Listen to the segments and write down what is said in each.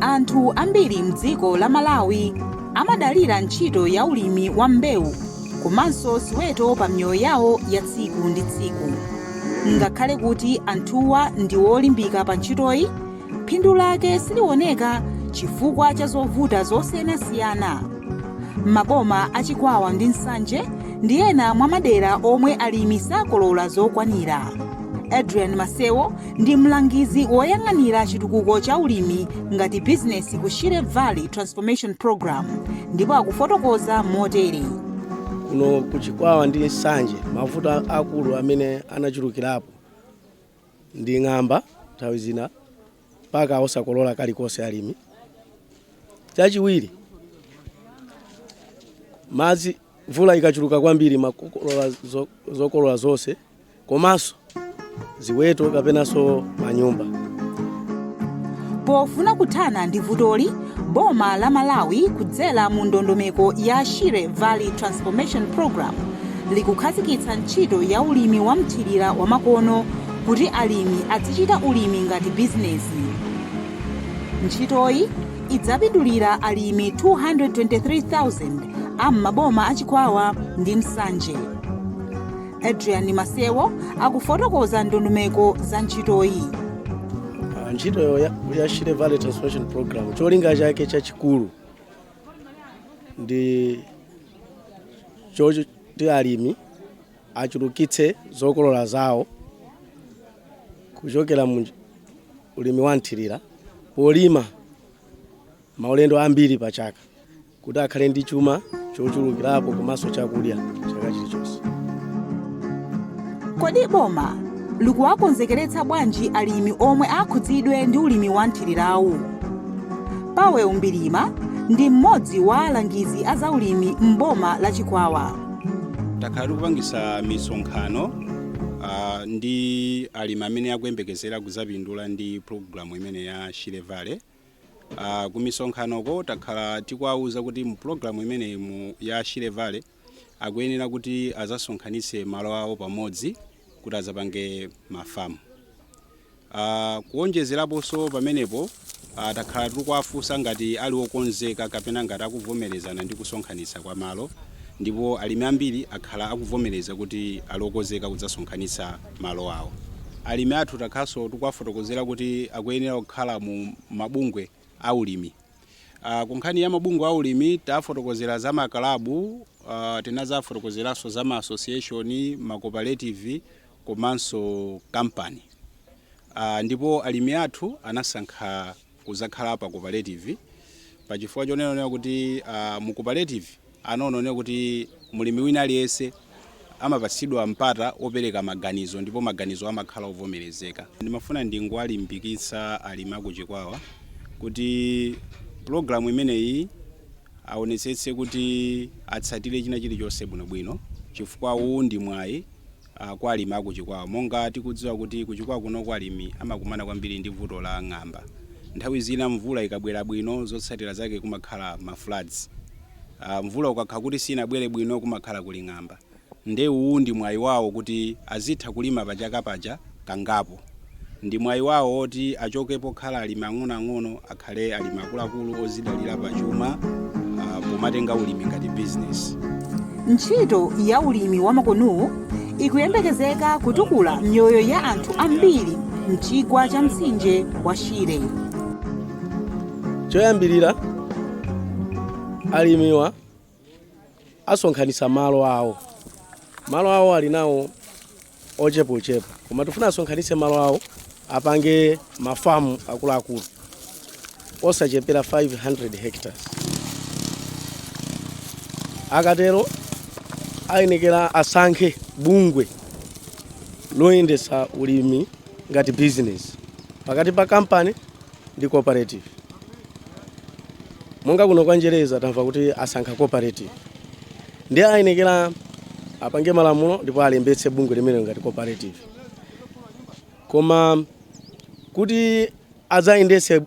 Anthu ambiri m'dziko la Malawi amadalira ntchito ya ulimi wa mbewu komanso ziweto pa miyoyo yawo ya tsiku ndi tsiku. Ngakhale kuti anthuwa ndi olimbika pa ntchitoyi, phindu lake silioneka chifukwa cha zovuta zosiyanasiyana. Maboma a Chikwawa ndi Nsanje ndi ena mwa madera omwe alimi sakolola zokwanira. Adrian Masewo ndi mlangizi woyang'anira chitukuko cha ulimi ngati bizinesi ku shire valley transformation program ndipo akufotokoza motere kuno ku chikwawa ndi nsanje mavuto a- akulu amene anachulukirapo ndi ng'amba nthawi zina mpaka osakolola kalikonse alimi chachiwiri madzi Mvula ikachuluka kwambiri imakokolola zo- zokolola zonse komanso ziweto kapenanso manyumba pofuna kuthana ndi vutoli boma la malawi kudzera mu ndondomeko ya shire valley transformation program likukhazikitsa ntchito ya ulimi wa mthirira wamakono kuti alimi azichita ulimi ngati bizinesi ntchitoyi idzapindulira alimi 223,000 a m'maboma a Chikwawa ndi Nsanje. Adrian Masewo akufotokoza ndondomeko za ntchitoyi. Ah, ntchito ya, ya Shire Valley Transformation Program cholinga chake chachikulu ndi choti alimi achulukitse zokolola zawo kuchokera mu ulimi wa mthirira polima maulendo ambiri pa chaka kuti akhale ndi chuma chochulukirapo komanso chakudya chaka chilichonse. Kodi boma likuwakonzekeretsa bwanji alimi omwe akhudzidwe ndi ulimi wa mthirirawu? Powell Mbilima ndi mmodzi wa alangizi a zaulimi m'boma la Chikwawa. takhala tikupangisa misonkhano uh, ndi alimi amene akuyembekezera kuzapindula ndi pulogalamu imene ya shire valley uh, ku misonkhanoko takhala tikuwawuza kuti mu pulogalamu imeneyi mu ya shire valley akuyenera kuti azasonkhanitse malo awo pamodzi kuti azapange mafamu Uh, kuonjezeraponso pamenepo uh, takhala tikuwafunsa ngati ali okonzeka kapena ngati akuvomerezana ndi kusonkhanitsa kwa malo ndipo alimi ambiri akhala akuvomereza kuti ali okonzeka kudzasonkhanitsa malo awo. Alimi athu takhalanso tikuwafotokozera kuti akuyenera kukhala mu mabungwe a alimi. Uh, ku nkhani ya mabungwe a alimi tafotokozera za makalabu uh, tinazafotokozeranso za ma association, ma cooperative komanso kampani uh, ndipo alimi athu anasankha kuzakhala pa cooperative pa chifukwa chonena kuti uh, mu cooperative anaona kuti mulimi wina aliyense amapatsidwa mpata opereka maganizo ndipo maganizo amakhala ovomerezeka. Ndimafuna ndingowalimbikitsa alimi a ku Chikwawa kuti programu imeneyi aonetsetse kuti atsatire china chilichonse bwinobwino chifukwa uwu ndi mwayi kwa alimi a ku Chikwawa. Monga tikudziwa kuti ku Chikwawa kunoku alimi amakumana kwambiri ndi vuto la ng'amba. Nthawi zina mvula ikabwera bwino zotsatira zake kumakhala ma floods. Mvula ukakhala kuti sinabwere bwino kumakhala kuli ng'amba. Nde uwu ndi mwayi wawo kuti azitha kulima pa chaka paja. kangapo. Ndi mwayi wawo woti achoke pokhala alimi ang'onoang'ono akhale alimi akuluakulu ozidalira pa chuma pomatenga ulimi ngati bizinesi. Ntchito ya ulimi wamakonowu ikuyembekezeka kutukula miyoyo ya anthu ambiri m'chigwa cha mtsinje wa Shire. Choyambirira, alimiwa asonkhanitsa malo awo malo awo ali nawo ochepa ochepa koma tifuna asonkhanitse malo awo apange mafamu akuluakulu osachepera 500 hectares akatero ayenekera asankhe bungwe loyendetsa ulimi ngati business pakati pa kampani ndi cooperative monga kuno kwa njereza tamva kuti asankha cooperative ndiye ayenekera apange malamulo ndipo alembetse bungwe limenelo ngati cooperative koma kuti adzayendetse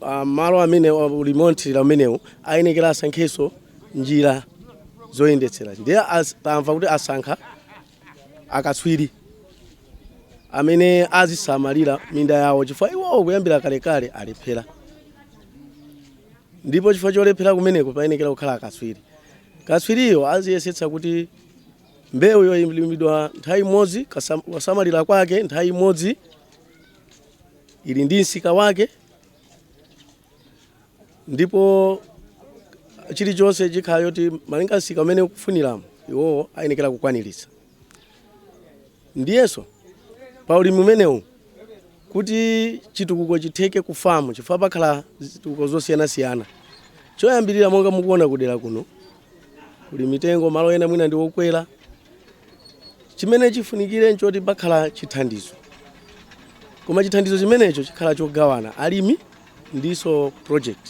ah, malo amene ulimi wothirira umenewu ayenekera asankhenso njira zoyendetsera ndiye as- tamva kuti asankha akatswiri amene azisamalira minda yawo chifukwa iwowo kuyambira kalekale alephera ndipo chifukwa cholephera kumeneko payenekera kukhala akatswiri katswiriyo aziyesetsa kuti mbewu yolimidwa nthawi imodzi kasam- kusamalira kwake nthawi imodzi ili ndi msika wake ndipo chilichonse chikhala choti malinga msika umene ukufuniramo iwowo ayenekera kukwaniritsa ndiyenso pa ulimi umenewu kuti chitukuko chitheke ku famu chifukwa pakhala zitukuko zosiyanasiyana choyambirira monga mukuona kudera kuno kuli mitengo malo ena mwina ndi okwera chimene chifunikire nchoti pakhala chithandizo koma chithandizo chimenecho chikhala chogawana alimi ndiso project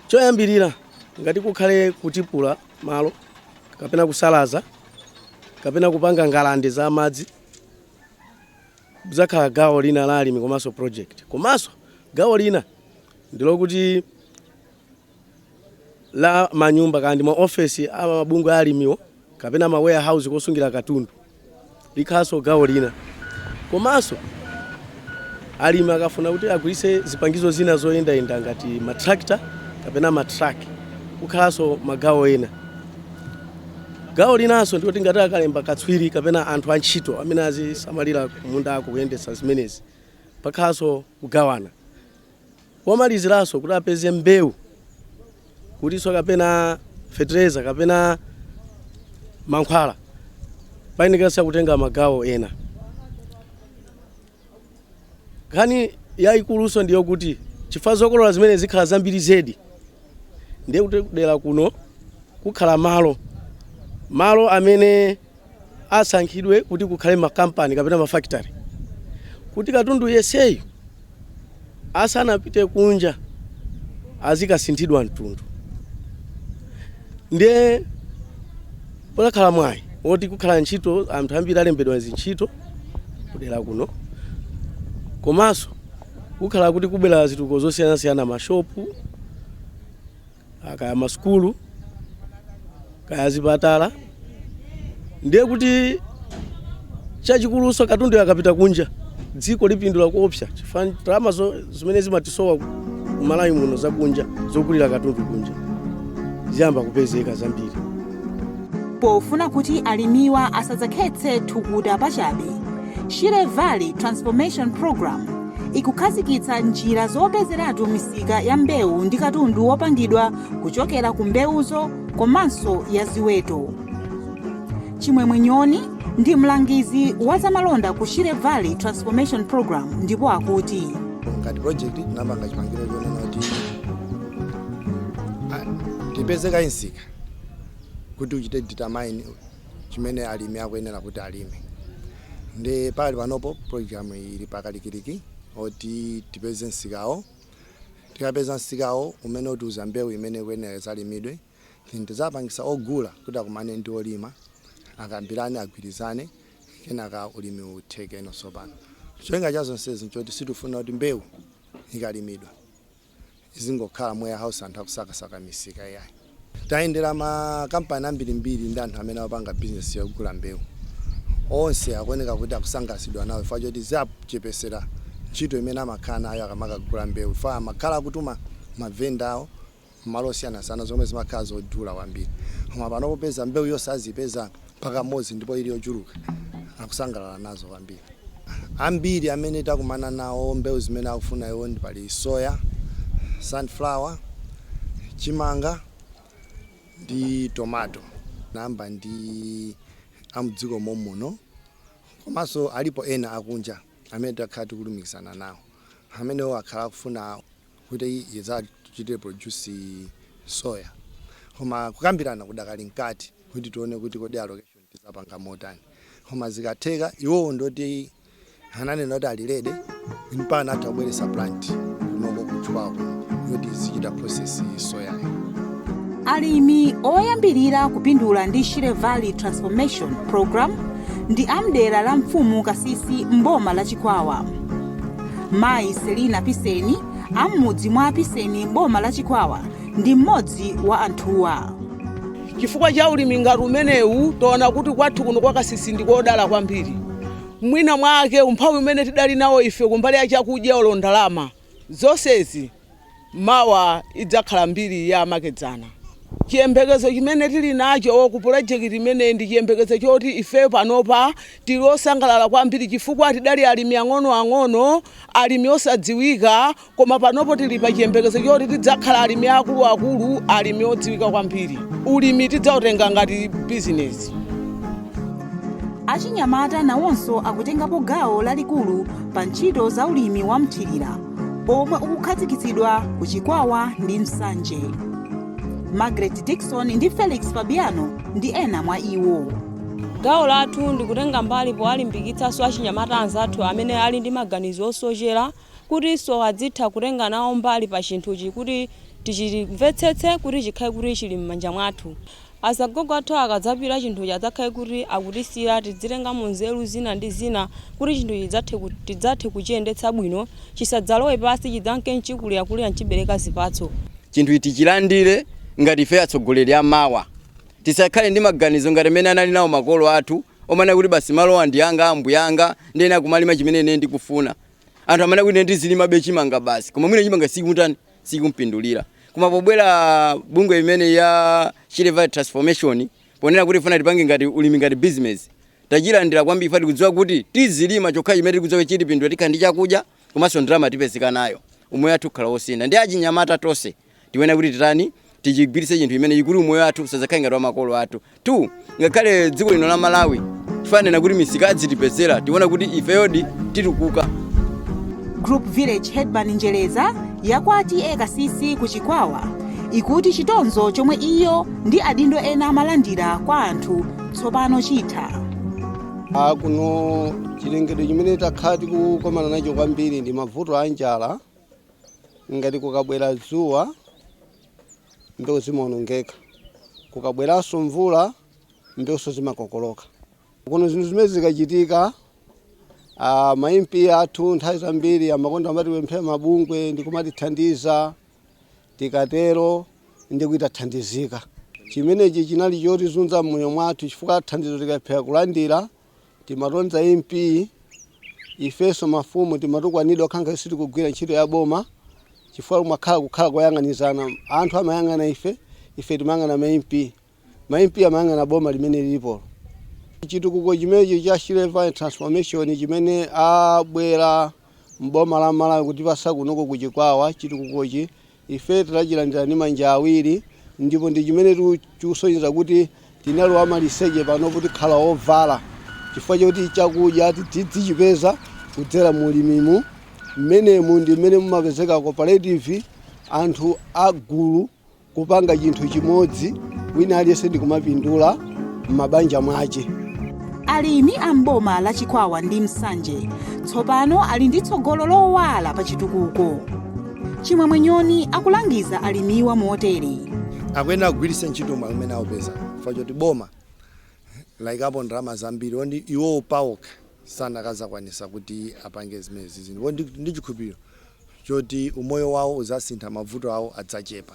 choyambirira ngati kukhale kutipula malo kapena kusalaza kapena kupanga ngalande za madzi izakhala gawo lina la alimi komanso project komanso gawo lina ndilokuti la manyumba kaya ndi ma ofesi a mabungwe a alimiwo kapena ma warehouse kosungira katundu likhalanso gawo lina komanso alimi akafuna kuti agwiritse zipangizo zina zoyendayenda ngati matrakita kapena matrak kukhalanso magawo ena gawo linanso ndikuti ngati akalemba katswiri kapena anthu antchito amene azisamalira kumundako kuyendetsa zimenezi pakhalanso kugawana Komaliziranso kuti apeze mbewu kutinso kapena fetereza kapena mankhwala payenekeranso kutenga magawo ena. Nkhani yayikulunso ndiyo kuti chifukwa zokolola zimene zikhala zambiri zedi ndiye kuti kudera kuno kukhala malo malo amene asankhidwe kuti kukhale makampani kapena mafactory kuti katundu yeseyi asanapite kunja azikasinthidwa mtundu ndiye pokakhala mwayi woti kukhala ntchito anthu ambiri alembedwa zintchito kudera kuno komanso kukhala kuti kubwera zitukuko zosiyanasiyana mashopu Ah, kaya masukulu kaya zipatala ndiye kuti chachikuluso katundu akapita kunja dziko lipindula kuopsa chifukwa ndalama zimene zimatisowa kumalawi muno zakunja zogulira katundu kunja ziyamba kupezeka zambiri Pofuna kuti alimiwa asadzakhetse thukuta pachabe, Shire Valley Transformation Program ikukhazikitsa njira zopezeratu misika ya mbewu ndi katundu wopangidwa kuchokera ku mbewuzo komanso ya ziweto. Chimwemwe Nyoni ndi mlangizi wa zamalonda ku Shire Valley Transformation Program ndipo akuti ngati project tinapanga chiganizo chonena kuti ah, tipeze kaye msika kuti uchite determine chimene alimi akuyenera kuti alime ndi pali panopo program ili pakalikiliki oti tipeze nsikawo tikapeza nsikawo umene utiuza mbewu imene ikuyenera idzalimidwe then tidzapangisa ogula kuti akumane ndi olima akambirane agwirizane kenaka ulimi utheke no tsopano cholinga cha zonsezi nchoti sitifuna kuti mbewu ikalimidwa izingokhala mu warehouse anthu akusakasaka misika iyayi tayendera makampani ambirimbiri ndi anthu amene amapanga bizinesi yogula mbewu onse akuoneka kuti akusangalatsidwa nawo chifukwa choti zawachepetsera ntchito imene amakhala nayo akamakagula mbewu chifukwa amakhala akutuma mavenda awo mmalo osiyanasiyana zomwe zimakhala zodula kwambiri koma pano popeza mbewu yonse azipeza pakamodzi ndipo ili yochuluka akusangalala nazo kwambiri. Ambiri amene takumana nawo mbewu zimene akufuna iwo ndi pali soya, sunflower, chimanga ndi tomato namba ndi amdziko momwemuno komanso alipo ena akunja amene takhala tikulumikizana nawo amenewo akhala akufuna kuti tidzawachitire produce soya koma kukambirana kudakali mkati kuti tione kuti kodi allocation tidzapanga motani koma zikatheka iwowo ndoti ananena kuti ali ready mpaka atha kubweretsa plant kunoko kuchokera kwawoko kuti izichita process soyayo alimi oyambirira kupindula ndi shire valley transformation program ndi amdera la mfumu kasisi mboma la chikwawa Mayi Selina Piseni a m'mudzi mwa Piseni m'boma la Chikwawa ndi mmodzi wa anthuwa. chifukwa cha ulimi ngati umenewu taona kuti kwathu kuno kwa kasisi ndi kodala kwambiri mwina mwake umphawi umene tidali nawo ife kumbali ya chakudya olo ndalama zonsezi Mawa idzakhala mbiri ya makedzana. Chiyembekezo chimene tili nacho ku pulojekiti imeneyi ndi chiyembekezo choti ifeyo panopa tili osangalala kwambiri chifukwa tidali alimi ang'onoang'ono, alimi osadziwika koma panopo tili pa chiyembekezo choti tidzakhala alimi aakuluakulu, alimi odziwika kwambiri. Ulimi tidzautenga ngati bizinesi. Achinyamata nawonso akutengapo gawo lalikulu pa ntchito za ulimi wa mthirira. omwe ukukhazikitsidwa ku chikwawa ndi nsanje margaret dikson ndi felix fabiano ndi ena mwa iwo gawo lathu ndikutenga mbali powalimbikitsanso achinyamata anzathu amene ali ndi maganizo osochera kutinso adzitha kutenga nawo mbali pa chinthuchi kuti tichimvetsetse kuti chikhale kuti chili m'manja mwathu Azagogo athu akadzapita chinthuchi adzakhale kuti akutisiyira tidzitengamo nzeru zina ndi zina kuti chinthuchi chidzathe tidzathe kuchiyendetsa bwino, chisadzalowe pansi chidzanke n'chikulirakulira n'chibereka zipatso. Chinthuchi tichilandire ngati ifeyo atsogoleri a mawa. Tisakhale ndi maganizo ngati amene anali nawo makolo athu omanena kuti basi malowa ndi anga, a mbuyanga, ndiyenera kumalima chimene ineyo ndikufuna. Anthu amanena kuti ine ndizilimabe chimanga basi, koma mwina chimanga sichikutani? sikumpindulira. Koma pobwera bungwe imene ya Shire Valley Transformation ponena kuti ifuna tipange ngati ulimi ngati business tachilandira kwambiri chifukwa tikudziwa kuti tizilima chokha chimene tikudziwa kuti chitipindula tikhala ndi chakudya komanso ndalama tipezeka nayo umoyo wathu ukhala wosintha ndi achinyamata tonse tione kuti titani tichigwiritse chinthu chimenechi kuti umoyo wathu usadzakhale ngati wa makolo athu ngakhale dziko lino la malawi tifanena kuti misika adzitipezera tiona kuti ifeyodi titukuka Group Village Headman Njereza ya kwa TA Kasisi ku Chikwawa akuti chitonzo chomwe iyo ndi adindo ena amalandira kwa anthu tsopano chitha. Ah, kuno chilengedwe chimene takhala tikukomana nacho kwambiri ndi mavuto a njala ngati kukabwera dzuwa mbewu zimaonongeka. Kukabweranso mvula, mbewunso zimakokoloka. Kuno zinthu zimenezi zikachitika, ah, ma MP athu nthawi zambiri amakonda kumatipemphera mabungwe ndi kumatithandiza. Tikatero ndi kuti tathandizika. Chimenechi chinali chotizunza m'moyo mwathu chifukwa thandizo tikalephera kulandira timatonza mp ifenso mafumu timatukwanidwa ngati sitikugwira ntchito ya boma chifukwa kumakhala kukhala kuyang'anizana anthu amayang'ana ife ife timayang'ana ma mp ma mp amayang'ana boma limene lilipo chitukuko chimenechi cha Shire Valley transformation chimene abwera mboma la malawi kutipatsa kunoko ku chikwawa chitukukochi Ife tinachilandira ndi manja awiri, ndipo ndi chimene chikusonyeza kuti tinali amaliseche, panopo tikhala ovala chifukwa choti chakudya tizichipeza kudzera mu ulimimu. Mmenemu ndi mmene mumapezeka cooperative, anthu a gulu kupanga chinthu chimodzi, wina aliyense ndi kumapindula. m'mabanja mwache alimi a m'boma la chikwawa ndi nsanje tsopano ali ndi tsogolo lowala pa chitukuko chimwemwe nyoni akulangiza alimiwa motere akuyenera kugwiritsa ntchito mwayi umene aupeza chifukwa choti boma layikapo ndalama zambiri ndi iwowo paokha sanakazakwanisa kuti apange zimene zinthu ndili ndi chikhulupiriro choti umoyo wawo uzasintha mavuto awo adzachepa